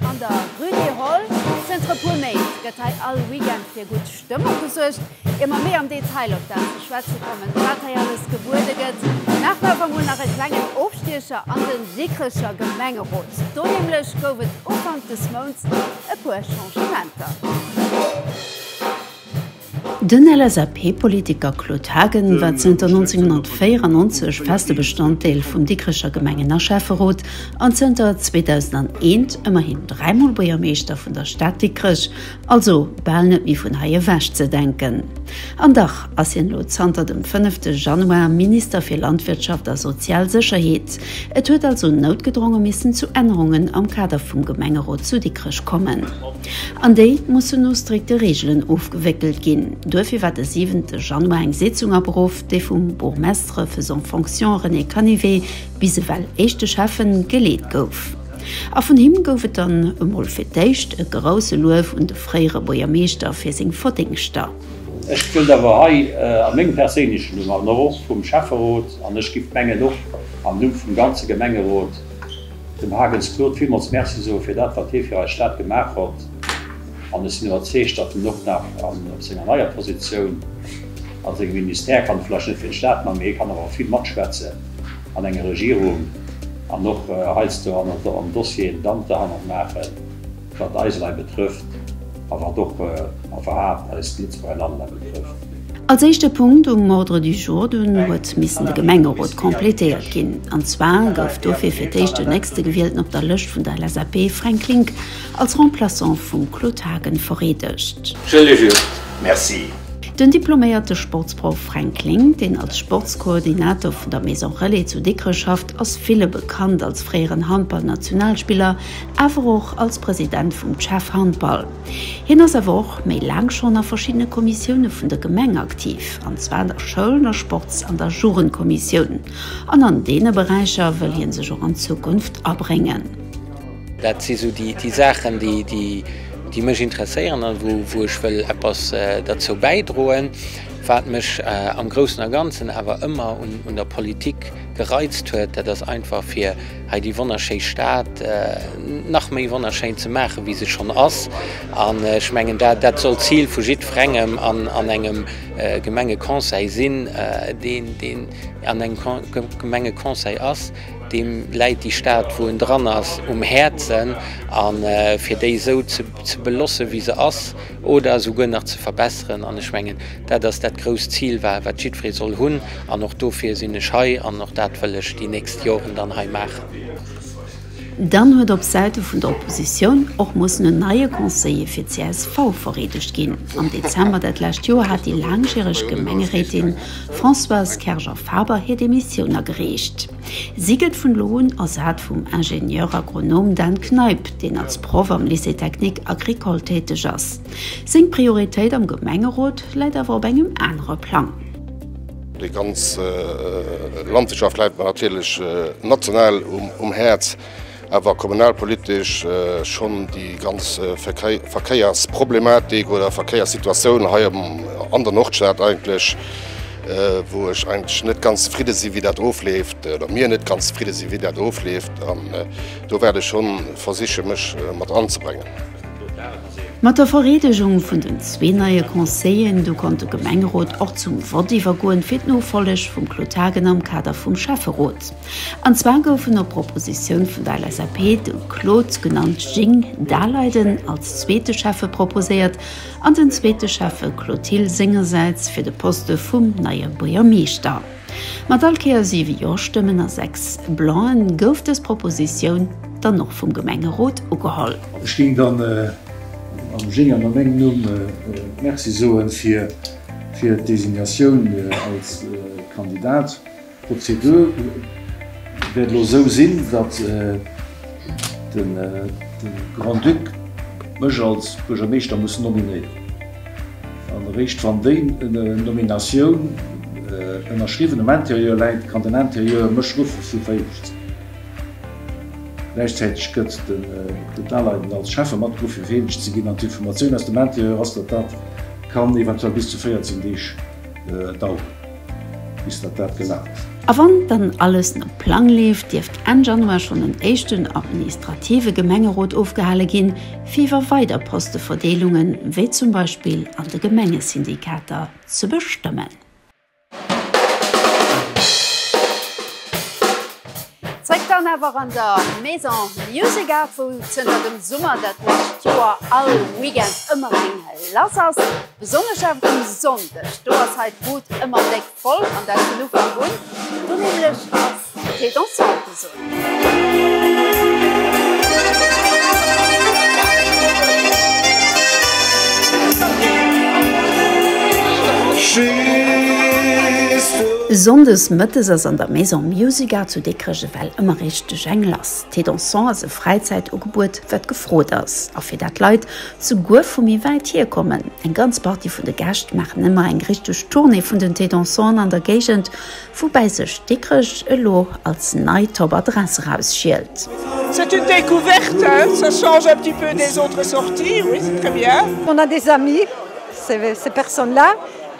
An der Rue des Halles, zënter e puer Méint, gëtt hei all Weekend fir gutt Stëmmung gesuergt. Ier mer méi am Detail op dat ze schwätze kommen, wat hei alles gebuede gëtt, maache mer awer emol nach e klengen Ofstiecher an de Dikrecher Gemengerot. Do nämlech gouf et Ufank des Mounts e puer Changementer. Den LSAP-Politiker Claude Haagen war zënter 1994 feste Bestanddeel vum Dikrecher Gemengen a Schäfferot an zënter 2001 ëmmerhin dräimol Buergermeeschter vun der Stad Dikrech, also bal net méi vun hei ewech ze denken. An dach ass hien elo zanter dem fënnefte Januar Minister fir Landwirtschaft a sozial Sécherheet. Et huet also noutgedronge missen zu Ännerungen am Kader vum Gemengerot zu Dikrech kommen. An déi mussen no strikte Reegelen ofgewéckelt ginn. Duerfir war de siwente Januar eng Sitzung aberuff, déi vum Bourgmestre faisant en fonction René Canivet, bis ewell éischte Schäffe, geleet gouf. A vun him gouf et dann emol fir d'éischt e grousse Luef un de fréiere Buergermeeschter fir seng Verdéngschter. Ech wëllt awer hei a mengem perséinlechen Numm an och vum Schäfferot, an ech giff mengen och am Numm vum ganze Gemengerot, Dem Hagens Claude villmools Merci soe fir dat, wat hie fir eis Stad gemaach hott an ech sinn iwwerzeegt, datt en och nach op senger neier Positioun a sengem Ministère kann vläicht net fir d'Stad man, mee hie kann awer vill matschwätzen an enger Regierung an och heiansdo an Dossieren d'Hand derhannert maachen. Wat eis Leit betrëfft, a wat och a werhaapt eist Lëtzebuerger Land nach betrëfft. Als éischte Punkt um Ordre du jour dunn huet missen de Gemengerot completéiert ginn. An zwar gouf dofir fir d'éischt den Nächstegewielten op der Lëscht vun der LSAP, Fränk Klinck, als Remplaçant vum Claude Haagen vereedegt. Je le jure. Merci. Den diploméierte Sportsproff Fränk Klinck, deen als Sportskoordinator vun der Maison Relais zu Dikrech schafft, ass ville bekannt als fréieren Handball-Nationalspiller, awer och als President vum CHEV Handball. Hien ass awer och méi laang schonn a verschiddene Kommissioune vun der Gemeng aktiv, an zwar an der Schoul-, der Sports an der Jugendkommissioun. An an deene Beräicher wëll hie sech och an Zukunft abréngen. Dat si sou déi Saachen, déi mech interesséieren a wou ech wëll eppes derzou bäidroen. Wat mech am Groussen a Ganzen awer ëmmer un der Politik gereizt huet, dat ass einfach fir, hei déi wonnerschéi Stad nach méi wonnerschéin ze maachen, wéi se schonn ass. An ech mengen, dat, dat soll d'Zil vu jiddwerengem an, an engem Gemengeconseil sinn, deen, deen an engem Gemengeconseil ass, deem läit déi Stad, wou en dran ass, um Häerzen. A fir déi esou ze belossen, wéi se ass, oder esouguer nach ze verbesseren, an ech mengen, dat ass dat grousst Zil, wa wat jiddweree soll hunn, an och dofir sinn ech hei an och dat wëll ech déi nächst Joren dann hei maachen. Dann huet op Säite vun der Oppositioun och mussen en neie Conseiller fir csv vereedegt ginn. Am Dezember dat lescht Joer hat déi laangjäreg Gemengeréitin Françoise Kerger-Faber hir Demissioun agereecht. Si gëtt vun elo un ersat vum Ingénieur agronome Dan Kneip, deen als Proff am Lycée technique agricole täteg ass. Seng Prioritéit am Gemengerot läit awer op engem anere Plang. Déi ganz Landwirtschaft läit mer natierlech national um Häerz. Awer kommunalpolitesch schonn déi ganz Verkéiersproblematik oder Verkéierssituatioun hei an der Nordstad eigentlech, wou ech eigentlech net ganz zefridde sinn, wéi dat ofleeft, oder mir net ganz zefridde sinn, wéi dat ofleeft. An do wäert ech schonn versichen, mech mat anzebréngen. Mat der Vereedegung vun den zwee neie Conseilleren, do konnt de Gemengerot och zum Vott iwwergoen fir d'Nofolleg vum Claude Haagen am Kader vum Schäfferot. An zwar goufen op Propositioun vun der LSAP de Claude, genannt Jing, Daleiden als zweete Schäffe proposéiert an den zweete Schäffe Clotil sengersäits fir de Poste vum neie Buergermeeschter. Mat all Kéier siwe Jo-Stëmmen a sechs Blanc-en gouf dës Propositioun dann och vum Gemengerot ugeholl. Ech géing dann am Jing an a mengem Numm Merci soe fir d'Designatioun als Kandidat. D'Prozedur wäert elo esou sinn, datt de Grand-Duc mech als Buergermeeschter muss nominéieren. An eréischt wann déi Nominatioun ënnerschriwwen um Intérieur läit, kann den Intérieur mech ruffe fir Vereedeegt ze ginn. Gläichzäiteg gëtt de Daleiden als Schäffe matgeruff fir vereedeegt ze ginn. An d'Informatioun aus dem Intérieur ass, datt dat kann eventuell bis zu 14 Deeg daueren. Bis datt dat gesat ass. A wann dann alles no Plang leeft, dierft Enn Januar schonn en éischten administrative Gemengerot ofgehale ginn, fir iwwer weider Posteverdeelungen, wéi zum Beispill an de Gemengesyndikater, ze bestëmmen. Zréck dann awer an der Maison Music Art, wou zënter dem Summer dat lescht Joer all Weekend ëmmer eng lass ass. Besonnesch awer um Sonndeg, do ass hei d'Bud ëmmer déck voll an dat vun Ufank un. Do nämlech ass fir Dansante soen. Sonndes mëttes ass an der Maison. Musica zu Dikrech ewell ëmmer richteg eng lass. Thé Dansant ass e Fräizäitugebuet, wat gefrot ass, a fir dat Leit souguer vu méi wäit hier kommen. Eng ganz Partie vun de Gäscht maachen ëmmer eng richteg Tournée vun den Thé Dansanten an der Géigend, woubäi sech Dikrech elo als nei Top Adress erausschielt. C'est une découverte, ça change un petit peu des autres sorties, oui c'est très bien. On a des amis, ces personnes là.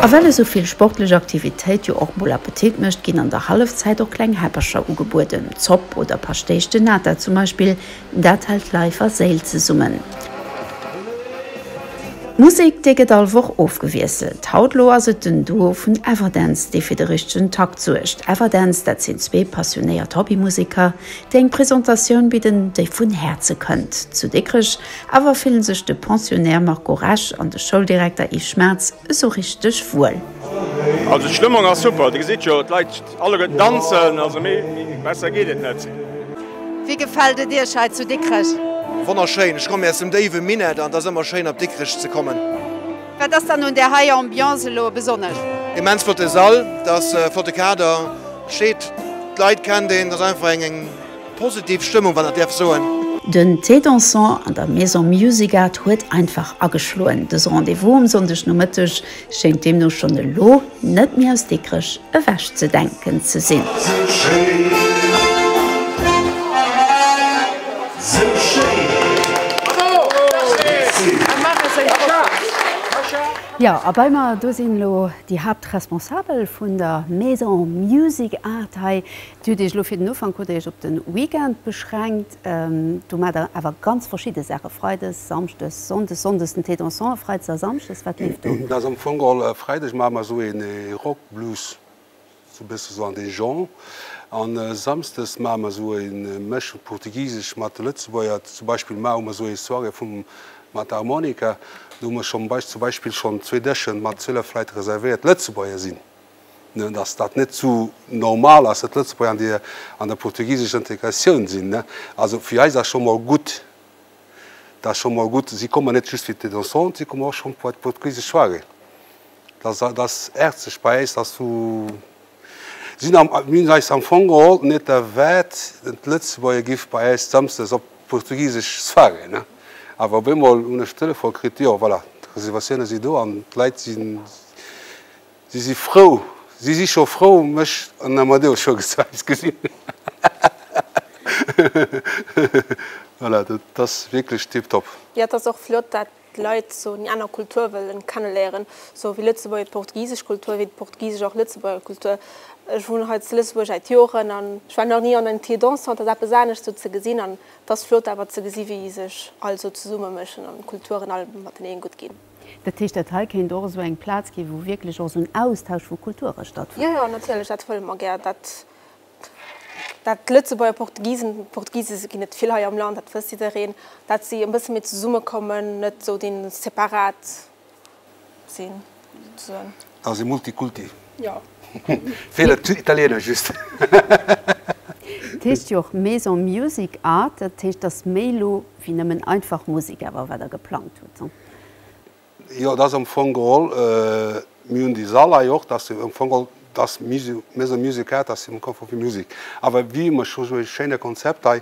A well esou vill sportlech Aktivitéit jo och mol Appetit mécht, ginn an der Hallefzäit och kleng Häppercher ugebueden, Zopp oder Paschtéisch de Nata zum Beispill, dat hält Leif a Séil zesummen. D'Musek, déi gëtt all Woch ofgewiesselt. Haut lo ass et den Duo vun Everdance, dee fir de richtegen Takt suergt. Everdance, dat sinn zwee passionéiert Hobbymuseker, Fir eng Presentatioun bidden, déi vun Häerze kënnt. Zu Dikrech awer fillen sech de Pensionnaire Marco Resch an de Schouldirekter Yves Schmaatz esou richteg wuel. Also d'Stëmmung ass super, Dir gesitt jo, d'Leit alleguerten danzen, also méi besser geet et net. Wéi gefält et Iech hei zu Dikrech? Wonnerschéin, ech komme aus dem déiwe Minett an et ass ëmmer schéin op Dikrech ze kommen. Wat ass dann un där hei Ambiance elo besonnesch? Immens flotte Sall, et ass e flotte Kader, steet, d'Leit kennt een, et ass einfach eng positiv Stëmmung, wann ech dat däerf soen. Den Thé Dansant an der Maison Music Art huet einfach ageschloen. Dëse Rendez-vous um Sonndegnomëtteg schéint deemno schonn elo Net méi aus Dikrech ewech ze denken ze sinn. Jo, a bei mer do sinn elo déi Haaptresponsabel vun der Maison Music Art hei. Dir hutt Iech elo fir den Ufank hutt Dir Iech op de Weekend beschränkt. Do maacht der awer ganz verschidde Saache freides, samschdes, sonndes, sonndes den Thé dansant a freides a samschdes. Wat leeft do? Dat ass am Fong all freides maache mer esou ee Rock Blues, esou e bësse esou an dee Genre. A samschdes maache mer esou ee Mëschung portugisesch mat lëtzebuerger. Zum Beispill mar hu mer esou ee Soirée vum mat der Harmonika. Do hu mer schonn zum Beispill schonn zwee Dëschen mat 12 Leit reservéiert, lëtzebuerger sinn. dass dat net esou normal ass, dass d'Lëtzebuerger déi an der portugisescher Integratioun sinn. Also fir eis ass scho mol gutt, dat ass scho mol gutt, si kommen net just fir d'Tête ensemble, si kommen och scho bei d'portugisesch Soirée. Dat ass häerzlech bei eis, dass du, sinn am, mir hunn eis am Fong geholl net erwaart, dass d'Lëtzebuerger giff bei eis Samsdes op d'portugisesch Soirée. Awer op eemol hunn ech de Telefon kritt, jo voilà, d'Reservatioune si do an d'Leit sinn, Si si frou, si si scho frou, mech an den Amadeus scho gezei ze gesinn. Voilà, dat ass wierklech tiptop. Jo, et ass och flott, dat d'Leit esou déi aner Kultur wëllen kenneléieren, esou wéi Lëtzebuerg déi portugisesch Kultur, wéi d'Portugisesch och Lëtzebuerger Kultur. Ech wunnen hei zu Lëtzebuerg äit Joren an ech war nach ni an en Tir dansant, dat ass eppes anescht esou ze gesinn an et ass flott awer ze gesinn, wéi sech all esou zesummeméchen an d'Kulturen all mateneen gutt ginn. Dat heescht, dat hei kéint och esou eng Plaz ginn, wou wierklech och esou en Austausch vu Kulture stattfënnt? Jo, jo, natierlech, dat wëlle mer gär. Dat, dat d'Lëtzebuerger Portugisen, Portugise ginn et vill hei am Land, dat wësst jiddereen, dat si e bësse méi zesummekommen, net esou dee separat sinn, souzesoen. ass e Multikulti. Jo. Feeler d'Italieener just. Et heescht jo och Maison Music Art, dat heescht, et ass méi elo wéi nëmmen einfach Musek awer, wat der geplangt hutt? Jo, et ass am Fong geholl, mir hunn déi Sall hei och, dat ass am Fong geholl, dass Maison Music Art, dat ass am Fong geholl fir Musek. Awer wéi ëmmer, ech hu esou e schéine Konzept hei,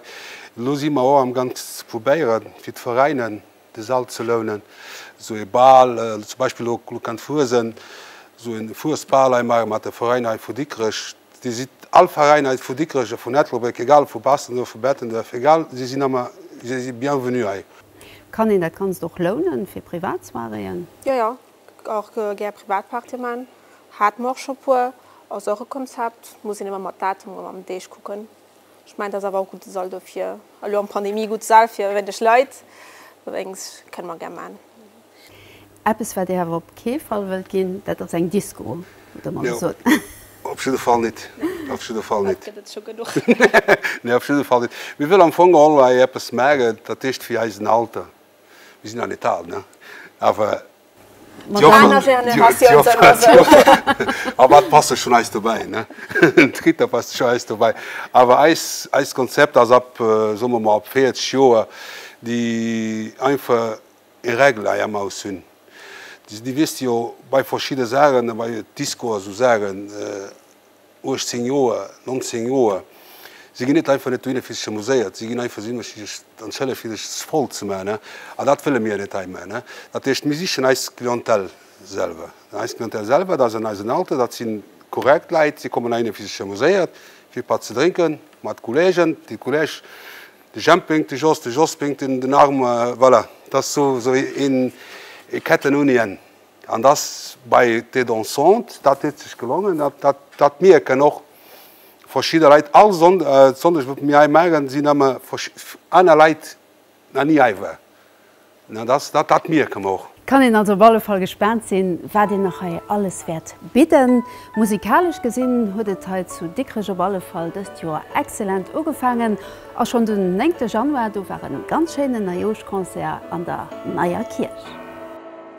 elo si mer och amgaangs ze probéieren, fir d'Veräiner, De Sall ze lounen, esou ee Bal, zum Beispill elo lo kennt Fuesent, esou ee Fuesbal hei maache mat de Veräiner hei vu Dikrech. Dir sidd all Veräiner hei vu Dikrech a vun Ettelbréck, egal ob vu Bastendorf, vu Bettenduerf, egal, si sinn ëmmer, si si bienvenue hei. Kann een dat Ganzt och lounen fir Privatsoiréeën? Jo, jo, och gär Privatpartye maachen. Hate mer och scho e puer. Ass och e Konzept, muss een ëmmer mat Datum a mam Deeg kucken. Ech mengen, dat ass awer och gudde Saldo fir elo an d'Pandemie. Gutt Sal fir wéineg Leit, allerdéngs kënne mer gär maachen. Eppes, wat Dir awer op kee Fall wëllt ginn, dat ass eng Disco, oder mer esou soen. Nö, op jidde Fall nit, op jidde Fall nit. Dat gëtt et scho genuch. Nö, op jidde Fall nit. Mir wëlle am Fong geholl hei eppes maachen, dat heescht fir eisen Alter, mir sinn nach nit al, ne, awer. D'Jochen, d'Generatioun, a wat passe schonn eis dobäi, ne? D'Ritter passe schonn eis dobäi. Awer eis, eist Konzept ass ab, soe mer mol, ab 40 Joer, déi einfach e Règle hei am Haus hunn. Dir wisst jo, bei verschidde Saachen, bei Disco a sou Saachen, 18 Joer, 19 Joer, si ginn net einfach net dohinner, fir sech amuséiert, si ginn einfach dohinner, fir sech an d'Schëller, fir sech voll ze maachen. An dat wëlle mir net hei maachen. Dat heescht, mir sichen eis Clientèle selwer. Eis Clientèle selwer, dat ass eisen Alter, dat si korrekt Leit, si kommen heihinner, fir sech amuséiert, fir e Patt ze drénken, mat Kolleegen, de Kolleg, de Jemp pénkt, de Jos, de Jos pénkt den Arm, voilà, dat ass esou ee Kettenunien. An dass bei Tête dansante, dat huet sech gelongen, dat dat mierken och verschidde Leit all Sonn Sonndeg wat mir hei maachen, sinn ëmme aner Leit nach ni hei war. An dass dat dat mierke mer och. Et kann een also op alle Fall gespaant sinn, wat een nach hei alles wäert bidden. Musikalesch gesinn huet et hei zu Dikrech op alle Fall dëst Joer excellent ugefaangen a schonn den 9 Januar, do war e ganz schéinen Neijooschconcert an der Neier Kierch.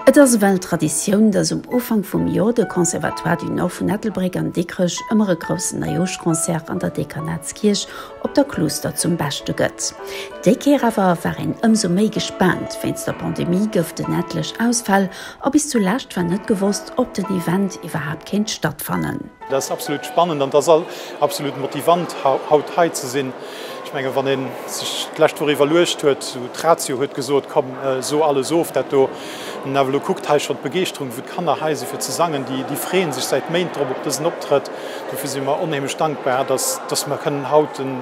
Et ass ewell Traditioun, dass um Ufank vum Jor de Conservatoire du Nord vun Ettelbréck an Dikrech ëmmer e groussen Neijoschconcert an der Dekanatskierch op der Kluuster zum Beschte gëtt. Déi Kéier awer war een ëmsou méi gespaant, wéinst der Pandemie gëft en etlech Ausfäll a bis zulescht war net gewosst, ob den Event iwwerhaapt kéint stattfannen. Dat ass absolut spannend an et ass absolut motivant, haut hei ze sinn. Ech mengen, wann ee sech d'lescht Woch iwwerluecht huet, esou d'Ratio huet gesot, komm, so alles of dat do. Wann een awer elo kuckt, hei schonn d'Begeeschterung, wou d'Kanner hei si fir ze sangen, déi freeën sech säit Méint drop op dësen Optrëtt. Dofir si mer onheemlech dankbar, dass mer kënnen haut den.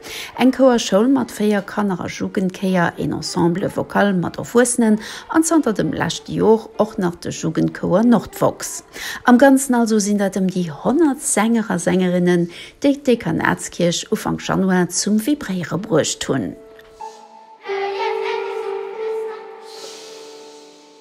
Eng Chouerschoul mat 4 Kanner a Jugendchéier, een Ensemble Vocal mat Erwuessenen an zanter dem leschte Jor och nach de Jugendchouer Nordvox. Am Ganzen also sinn dat ëm déi 100 Sänger a Sängerinnen, déi d'Dekanatskierch Ufank Januar zum Vibréiere bruecht hunn.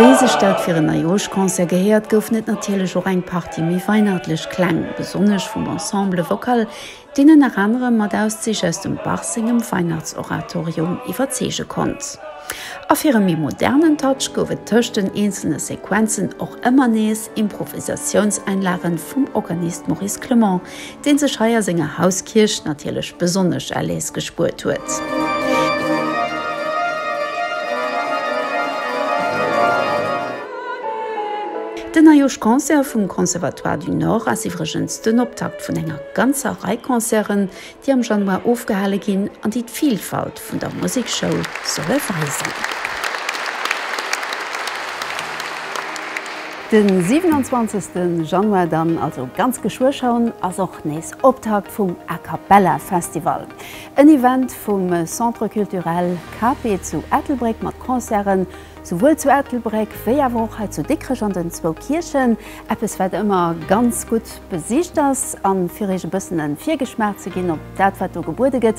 Wéi sech dat fir en Neijoerschconcert gehéiert, goufen et natierlech och eng Partie méi weihnachtlech Kläng, besonnesch vum Ensemble Vocal, deen ënner anerem mat Auszich aus dem Bach sengem Weihnachtsoratorium iwwerzeege konnt. A fir e méi modernen Touch gouf et tëscht den eenzelne Sequenzen och ëmmer nees Improvisatiounseinlagen vum Organist Maurice Clement, deen sech hei a senger Hauskierch natierlech besonnesch Erléis gespuert huet. Den Eioschconcert vum Conservatoire du Nord ass iwwregens den Optakt vun enger ganzer Rei Concerten, déi am Januar ofgehale ginn an déi d'Vilfalt vun der Musekschoul solle weisen. De 27 Januar dann, also ganz geschwë schon, ass och nees Optakt vum A Cappella Festival. En Event vum Centre Culturel Cape zu Ettelbréck mat Concerten souwuel zu Ettelbréck wéi awer och hei zu Dikrech an den zwou Kierchen. Eppes wat ëmmer ganz gutt besicht ass. A fir Iech e bëssen en Virgeschmaach ze ginn op dat wat do gebuede gëtt,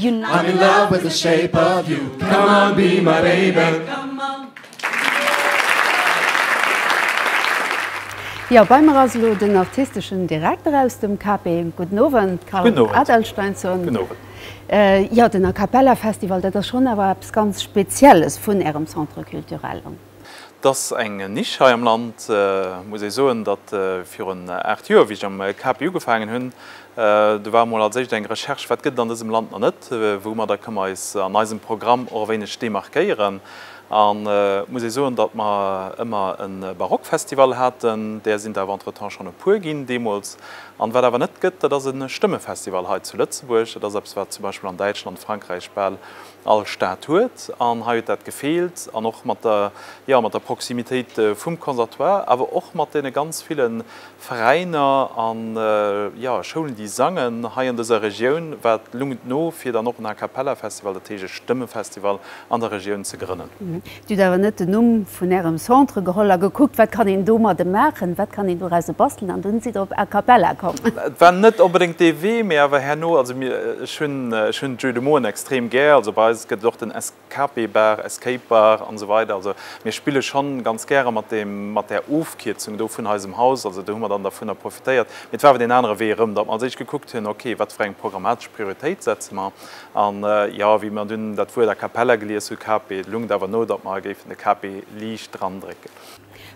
I'm in love with the shape of you Come on be my baby Jo bei mer ass elo den artisteschen Direkter aus dem KP. Gudden Owend Karl Adelsteinsson. Gudden Owend. Jo den A Cappella Festival dat ass schonn awer eppes ganz Spezielles vun Ärem Centre Culturel. Et ass eng Nisch hei am Land, muss ee soen, datt virun aacht Joer, wéi ech am CAPI ugefaangen hunn, do war emol als éischt eng Recherche, wat gëtt et an dësem Land nach net, woumadder kënne mer eis an eisem Programm och e wéineg demarquéieren. An et muss ee soen, datt mer ëmmer e Barockfestival haten, där sinn der awer entretemps schonn e puer ginn deemools. An wat awer net gëtt, dat ass e Stëmmefestival hei zu Lëtzebuerg. Dat ass eppes, wat zum Beispill an Däitschland, Frankräich bal All Stad huet, an hei huet dat gefeelt, an och mat der, jo, mat der Proximitéit vum Conservatoire, awer och mat deene ganz ville Veräiner a, jo, Schoulen, déi sangen hei an dëser Regioun, war d'Lungt no, fir dann och en A Cappella Festival, dat heescht e Stëmmefestival an der Regioun ze grënnen. Dir hutt awer net den Numm vun Ärem Centre geholl a gekuckt, wat kann een domadde maachen, wat kann een dorause bastelen, an dunn sidd Der op Acapella komm. Et war net onbedéngt dee Wee, mee awer herno, also mir, ech hunn, ech hunn d'Jeux de mots extrem gär, also bei eis gëtt et och den Escape Bar, Escape Bar an esou weider, also mir spille schonn ganz gäre mat deem, mat där Ofkierzung do vun eisem Haus, also do hu mer dann dervunner profitéiert. Mee et war awer deen anere Wee erëm, datt mer als éischt gekuckt hunn, ok, wat fir eng programmatesch Prioritéit setze mer An jo, wéi mer dunn dat Wuert a cappella gelies hu KP, et lungt awer no, datt mer hei géifen de KP liicht drandrécken.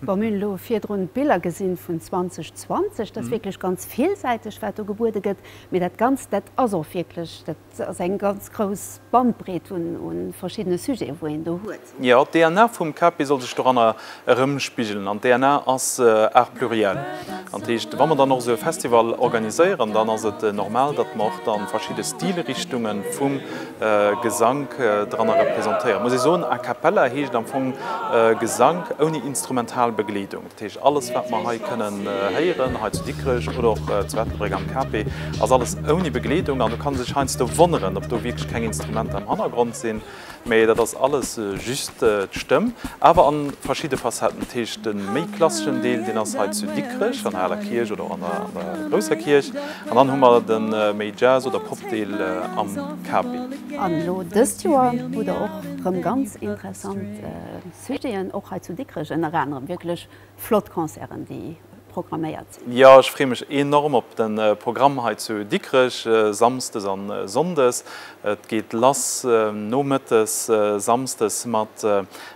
Bon, mir hunn elo virdrun d'Biller gesinn vun 2020. Dat ass wierklech ganz villsäiteg, wat do gebuede gëtt. Mee dat Ganzt, dat ass och wierklech, dat ass eng ganz grouss Bandbreet un verschiddene Sujeten, wou een do huet. Jo, d'DNA vum Kapi soll sech doranner erëmspigelen. An d'DNA ass art pluriel. An dat heescht, wa mer dann och esou e Festival organiséieren, dann ass et normal, datt mer och da verschidde Stilrichtunge vum Gesank doranner representéieren. Muss ee soen, a cappella heescht am Fong Gesank ouni instrumental Begleedung. Dat heescht, alles, wat mer hei kënnen héieren, hei zu Dikrech oder och zu Ettelbréck am Kapi, ass alles ouni Begleedung. An do ka sech heiansdo wonneren, ob do wierklech keng Instrumenter am Hannergrond sinn. Mee dat ass alles just d'Stëmm, awer a verschidde Facetten. Dat heescht, de méi klasseschen Deel, deen ass hei zu Dikrech an der Aler Kierch oder och an der Grousser Kierch. An dann hu mer de méi Jazz oder Pop-Deel am Capi. An elo dëst Joer hu der och rëm ganz interessant Sujeten, och hei zu Dikrech, ënner anerem wierklech Flott Concerten déi programméiert sinn. Jo, ech freeë mech enorm op de Programm hei zu Dikrech samsdes a sonndes. Et geet lass nomëttes samsdes mat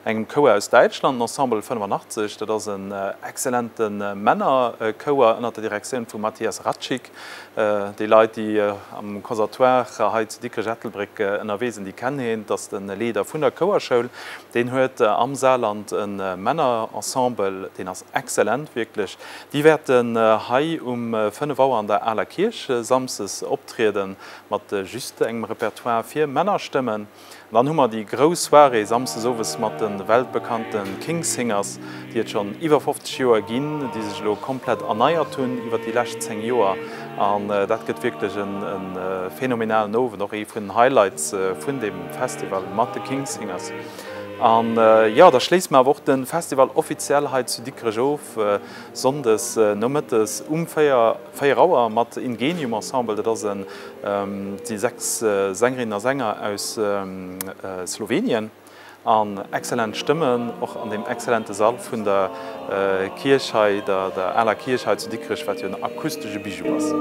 engem Chouer aus Däitschland, Ensemble 85. Dat ass en excellente Männerchouer ënner der Direktioun vum Matthias Ratschig. Déi Leit, déi am Consertoire hei zu Dikrech-Ettelbréck ënnerwee sinn, déi kennen hien. Et ass de Leeder vun der Chouerschoul. Deen huet am Saarland e Männerensemble, deen ass excellent, wierklech. Déi wäerten hei um fënnef Auer an der Aler Kierch samsdes optriede mat just engem Repertoire fir Männerstëmmen. An dann hu mer déi grouss Soirée Samsdes owes mat de weltbekannte King's Singers, déi et schonn iwwer 50 Joer ginn, déi sech elo komplett erneiert hunn iwwer déi lescht 10 Joer. An dat gëtt wierklech e phänomenalen Owend, och ee vun den Highlights vun deem Festival mat de King's Singers. An jo, da schléisse mer awer och de Festival offiziell hei zu Dikrech of, Sonndes nomëttes um 4. 4 Auer mat Ingenium Ensemble, dat ass en, si 6 Sängerinnen a Sänger aus Slowenien an excellent Stëmmen och an deem excellente Sall vun der Kierch hei, der aler Kierch hei zu Dikrech, wat jo en akustesche Bijou ass.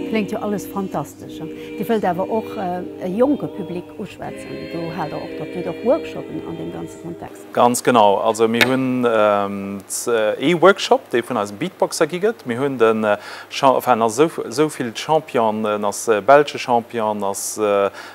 Kléngt jo alles fantastesch. Dir wëllt awer och e jonke Public uschwätzen, do haalt der och, datt dir och Workshoppen an deem ganze. Kontext. Ganz genau, also mir hunn ee Workshop, dee vun eisem Beatboxer gi gëtt. Mir hunn den, enfin en ass esou vill Champion, en ass belsche Champion, en ass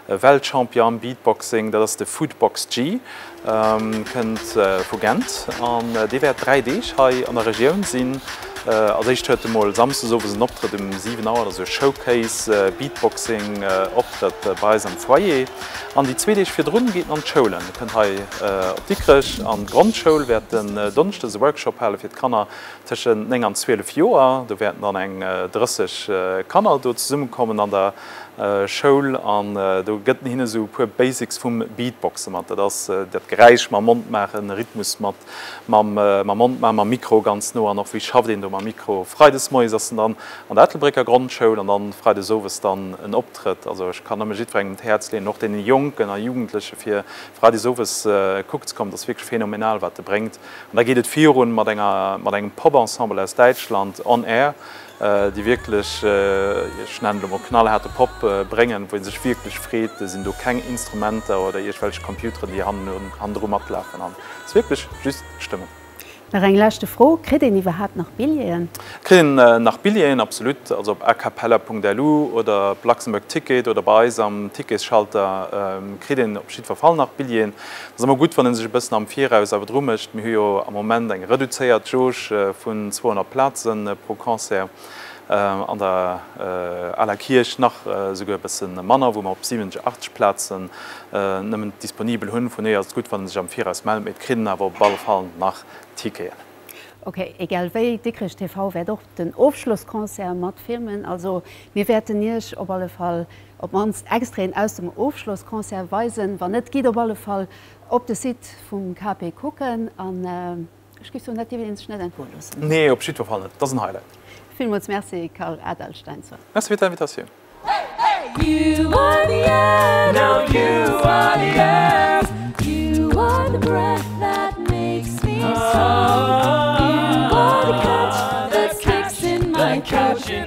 Weltchampion am Beatboxing, dat ass de Foodbox Gee, kënnt vu Gent an dee wäert dräi Deeg hei an der Regioun sinn. Als éischt huet e mol Samsdes owes en Optrëtt um 7 Auer, dat ass e Showcase, Beatboxing Optrëtt bei eis am Foyer. An déi zwee Deeg virdrun geet en an d'Schoulen, e kënnt hei op Dikrech an d'Grondschoul, wäert en Donsschdes e Workshop hale fir d'Kanner tëschent 9 an 12 Joer. Do wäerten dann eng 30 Kanner do zesummekommen an der Schoul an do gëtt en hinne sou e puer Basics vum Beatboxe mat, dat ass dat Geräisch mam Mond maachen, e Rhythmus mat Mam Mond, mam Mikro ganz no an och wéi schafft een do mam Mikro. Freides moies ass en dann an der Ettelbrécker Grondschoul an dann freides owes dann en Optrëtt. Also ech kann nëmme jiddwerengem d'Häerz leeën, och deene Jonken a Jugendleche fir freides owes kuck ze kommen. Et ass wierklech phänomenal wat e bréngt. An da geet et virun mat enger, mat engem Pop-Ensemble aus Däitschland, On Air, déi wierklech, ech nennen elo mol knallhaarde Pop bréngen, wou ee sech wierklech freet, et sinn do keng Instrumenter oder iergwelch Computeren, déi hannendru matlafen an et ass wierklech just d'Stëmmung. Nach eng leschte Fro, Kritt een iwwerhaapt nach Billjeeën? Et kritt een nach Billjeeën, absolut. Also op acapella.lu oder op Luxembourg Ticket oder bei eis am Ticketsschalter kritt een op jiddwer Fall nach Billjeeën. Et ass ëmmer gutt, wann ee sech e bëssen am Viraus awer dru mécht. Mir hu jo am Moment eng reduzéiert Jauge vun 200 Plaze pro Concert, an der aler Kierch nach esouguer e bësse manner, wou mer op 70, 80 Plaze nëmmen disponibel hunn. Vun dohier ass et gutt, wann ee sech am Viraus mellt. Mee et kritt een awer op alle Fall nach Ticketen. Ok, egal wéi, Dikrech TV wäert och den Ofschlossconcert matfilmen. Also mir wäerten Iech op alle Fall Op mannst Extraiten aus dem Ofschlossconcert weisen, wann net, gitt op alle Fall op de Site vum KP kucken an ech géif soen, dat dierf een sech net entgoe loossen. Nee, op jiddwer Fall net, et ass en Highlight. Villmools Merci Karl Adalsteinsson. Merci fir d'Invitatioun.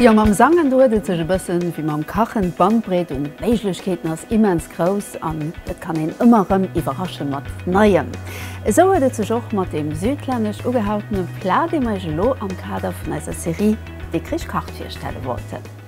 Jo mam Sangen do huet et sech e bëssen wéi mam Kachen, d'Bandbreet un Méiglechkeeten ass immens grouss an et kann een ëmmer rëm iwwerrasche mat Neiem. Esou huet et sech och mat deem südlännesch ugehautene Plat, dee mer iech elo am Kader vun eiser Serie Dikrich kacht virstelle wollten.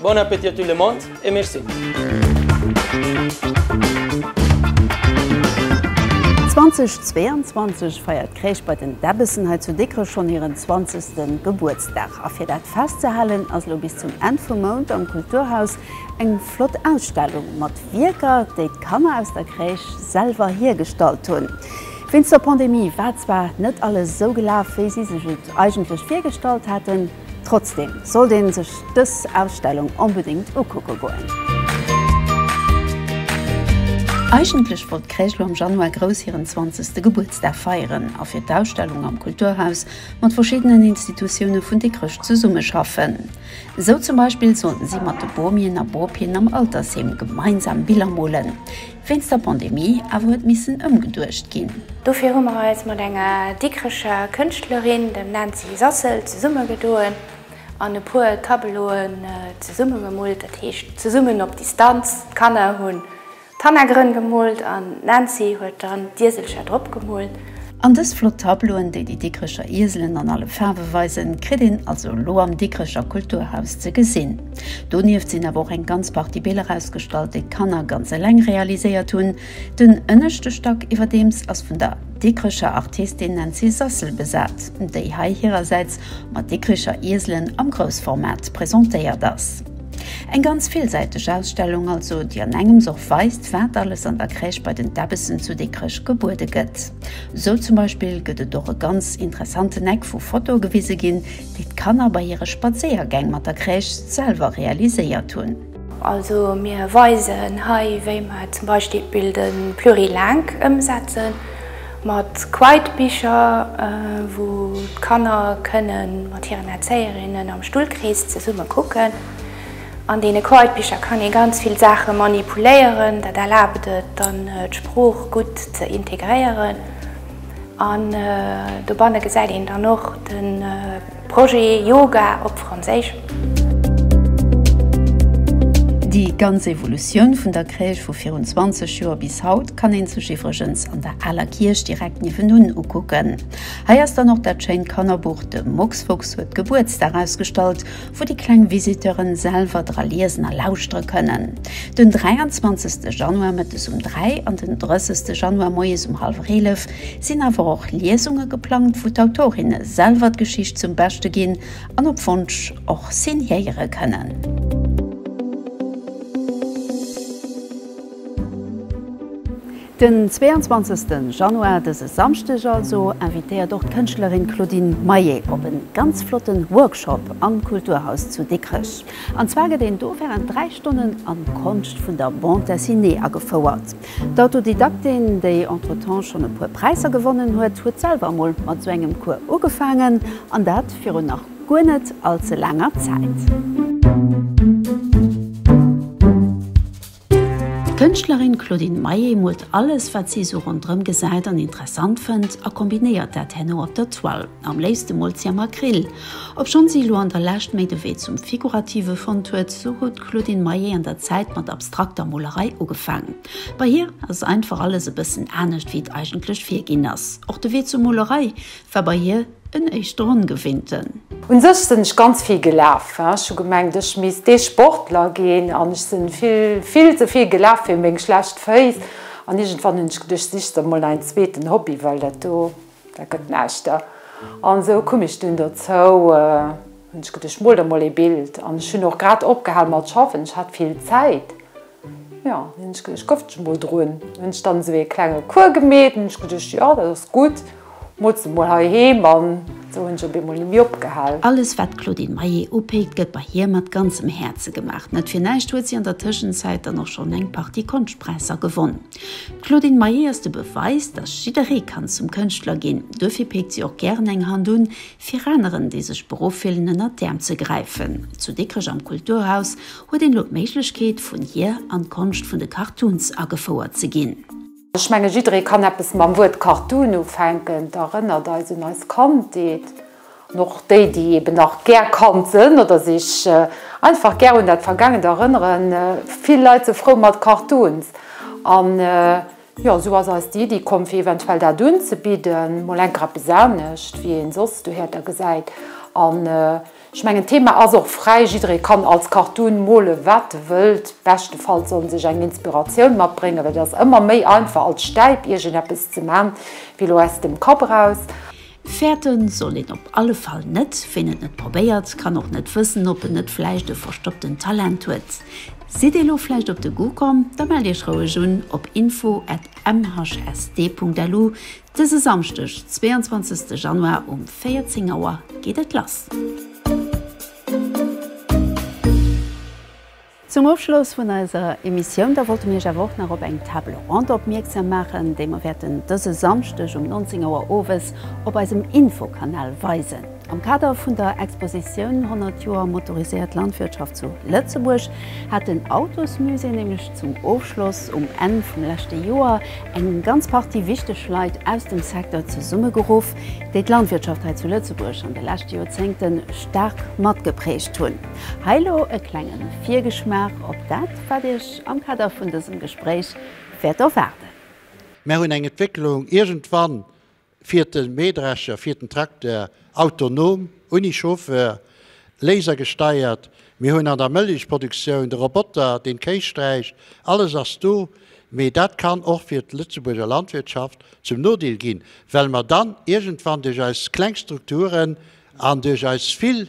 Bon appétit à tout le monde et merci. 2022 feiert d'Kréich bei den Debbessen hei zu Dikrech schonn hiren 20. Gebuertsdag. A fir dat festzehalen ass elo bis zum Enn vum Mount am Kulturhaus eng flott Ausstellung mat Wierker, déi d'Kanner aus der Crèche selwer hiergestallt hunn. Wéinst der Pandemie war zwar net alles esou gelaf, wéi si sech et eigentlech virgestallt haten. Trotzdem sollt een sech dës Ausstellung onbedéngt ukucke goen. Eigentlech wollt d'Kréischlo am Januar grouss hiren 20. Gebuertsdag feieren a fir d'Ausstellung am Kulturhaus mat verschiddenen Institutioune vun Dikrech zesummeschaffen. Esou zum Beispill sollten si mat de Bobien a Bopien am Altersheem gemeinsam Biller molen. Wéinst der Pandemie awer huet missen ëmgeduecht ginn. Dofir hu mer eis mat enger Dikrecher Kënschtlerin, dem Nancy Sassel, zesummegedoen an e puer Tableauen zesummegemoolt, dat heescht zesummen op Distanz. D'Kanner hunn d'Hannergrënn gemoolt an d'Nancy huet dann d'Ieselcher drop gemoolt. An dës flott Tableauen, déi déi Dikricher Ieselen an alle Faarwe weisen, kritt een also elo am Dikricher Kulturhaus ze gesinn. Donieft sinn awer och eng ganz Partie Biller ausgestallt, déi d'Kanner ganz eleng realiséiert hunn. Den ënneschte Stack iwwerdeems ass vun der Dikricher Artistin Nancy Sassel besat, déi hei hirersäits mat Dikricher Ieselen am Groussformat presentéiert ass. Eng ganz villsäiteg Ausstellung also, déi an engems och weist, wat alles an der Crèche bei den Debbessen zu Dikrech gebuede gëtt. Sou zum Beispill gëtt et och e ganz interessanten Eck wou Fotoe gewise ginn, déi d'Kanner bei hire Spadséiergäng mat der Crèche selwer realiséiert hunn. Also mir weisen hei wéi mer zum Beispill den Plurilingue ëmsetzen Mat Quiet-Bicher, wou d'Kanner kënne mat hiren Erzéierinnen am Stullkrees zesumme kucken. An deene Quiet-Bicher kann ee ganz vill Saache manipuléieren. Dat erlaabt et dann, d'Sprooch gutt ze integréieren. An dobanne gesäit een dann och de. Projet Yoga op Franséisch. Déi ganz Evolutioun vun der Crèche vu virun 20 Joer bis haut kann een sech iwwregens an der aler Kierch direkt niewendun ukucken. Hei ass dann och dat schéint Kannerbuch De Mucksfuchs huet Gebuertsdag ausgestallt, wou déi kleng Visiteuren selwer dra liesen a lauschtere kënnen. Den 23 Januar mëttes um 3 an den 30 Januar moies um hallwer 11 Et sinn awer och Liesunge geplangt, wou d'Autorinne selwer d'Geschicht zum Beschte ginn an op Wonsch och signéiere kënnen. Den 22 Januar, dëse Samschdeg also, invitéiert och d'Kënschtlerin Claudine Maillet op e ganz flotten Workshop am Kulturhaus zu Dikrech. An zwar gëtt een do wärend 3 Stonnen an d'Konscht vun der Bande dessinée agefouert. D'Autodidaktin, déi entretemps schonn e puer Präisser gewonnen huet, huet selwer emol mat esou engem Cours ugefaangen, an dat virun nach guer net all ze laanger Zäit. D'Kënschtlerin Claudine Maillet moolt alles, wat si esou ronderëm gesäit an interessant fënnt, a kombinéiert dat herno op der Toile. Am léifste moolt si am Acryl. Obschonn si elo an der Lescht méi de Wee zum Figurative fonnt huet, esou huet d'Claudine Maillet an der Zäit mat abstrakter Molerei ugefaangen. Bei hir ass einfach alles e bëssen anescht wéi et eigentlech virginn ass. Och de Wee zur Molerei war bei hir en éischter ongewinnten. Un sech sinn ech ganz vill gelaf. Ech hu gemengt ech misst dee Sportler ginn an ech sinn vill, vill ze vill gelaf fir meng schlecht Féiss an iergendwann hunn ech geduecht sichs der mol ein zweeten Hobby well dat do, Dat gëtt näischt. An esou koum ech dunn dozou, hunn ech geduecht, ech mol der mol ee Bild. An ech hunn och grad opgehal mat schaffen, ech hat vill Zäit. Jo, hunn ech geduecht, ech gëfft ech mol drun. Hunn ech dann esou ee klenge Cours gemeet, hunn ech geduecht, jo, dat ass gutt, mols de mol heiheem. An esou hunn ech op eemol ni méi opgehal. Alles, wat d'Claudine Maillet upéckt, gëtt bei hir mat ganzem Häerze gemaach. Net fir näischt huet si an der Tëschenzäit dann och schonn eng Partie Konschtpräisser gewonn. D'Claudine Maillet ass de Beweis, datt jidderee kann zum Kënschtler ginn. Duerfir péckt si och gären eng Hand un, fir aneren, déi sech beruff fillen, ënnert d'Äerm ze gräifen. Zu Dikrech am Kulturhaus huet een elo d'Méiglechkeet, vun hir an d'Konscht vun de Cartoons agefouert ze ginn. Ech menge jidderee kann eppes mam Wuert Cartoon ufänken. D'erënnert eis un eis Kandheet. An och déi, déi eben nach gär Kand sënn oder sech einfach gär un dat Vergaangent erënneren, vill Leit sou frou mat Cartoons. An jo, esou ass eis déi Iddi komm, fir eventuell dat unzebidden, mol enker eppes anescht, wéi een soss dohäert a gesäit. An ech mengen, d'Thema ass och fräi, jidderee kann als Cartoon mole wat e wëllt, beschtefalls soll en sech eng Inspiratioun matbréngen, well et ass ëmmer méi einfach als Stäip iergendeppes ze man, wéi lo aus dem Kapp eraus. Fäerte soll een op alle Fall net. Ween et net probéiert, kann och net wëssen, ob en net vläicht e verstoppten Talent huet. Sidd Dir elo vläicht op de Goût komm? Da mellt Iech roueg un op info at mhsd.lu. Dëse Samschdeg, 22 Januar um 14 Auer geet et lass. Zum Ofschloss vun eiser Emissioun da wollte mir iech awer och nach op eng Table Ronde opmierksam maachen, déi mer wäerten dëse Samschdeg um 19 Auer owes op eisem Infokanal weisen. Am Kader vun der Expositioun 100 Joer motoriséiert Landwirtschaft zu Lëtzebuerg hat den Autosmusée nämlech zum Ofschloss um Enn vum leschte Joer eng ganz Partie wichteg Leit aus dem Secteur zesummegeruff, déi d'Landwirtschaft hei zu Lëtzebuerg an de leschte Joerzéngte staark matgeprägt hunn. Hei lo e klengen Virgeschmaach op dat wat iech am Kader vun dësem Gespréich wäert erwaarden. Mär hunn eng Entwécklung, iergendwann fiert de Mähdrescher, fiert den Trakteur autonom, unni Chauffeur, Laser gesteiert. Mir hunn an der Mëllechproduktioun de Roboter, deen d'Kéis sträicht. Alles ass do, mee dat kann och fir d'Lëtzebuurger Landwirtschaft zum Nodeel ginn, well mer dann iergendwann duerch eis kleng Strukturen an duerch eis vill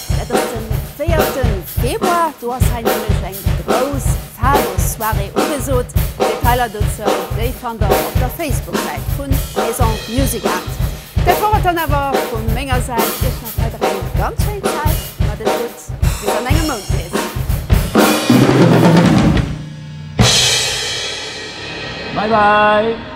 Et ass den 4 Februar, do ass hei nämlech eng grouss Fado-Soirée ugesot. Detailer dozou, déi fannt der op der Facebook-Säit vun Maison Music Art. Dat wor et dann awer vu menger Säit. Iech nach weider eng ganz schéin Zäit, mat et gutt, bis an engem Mount nees. Bye bye!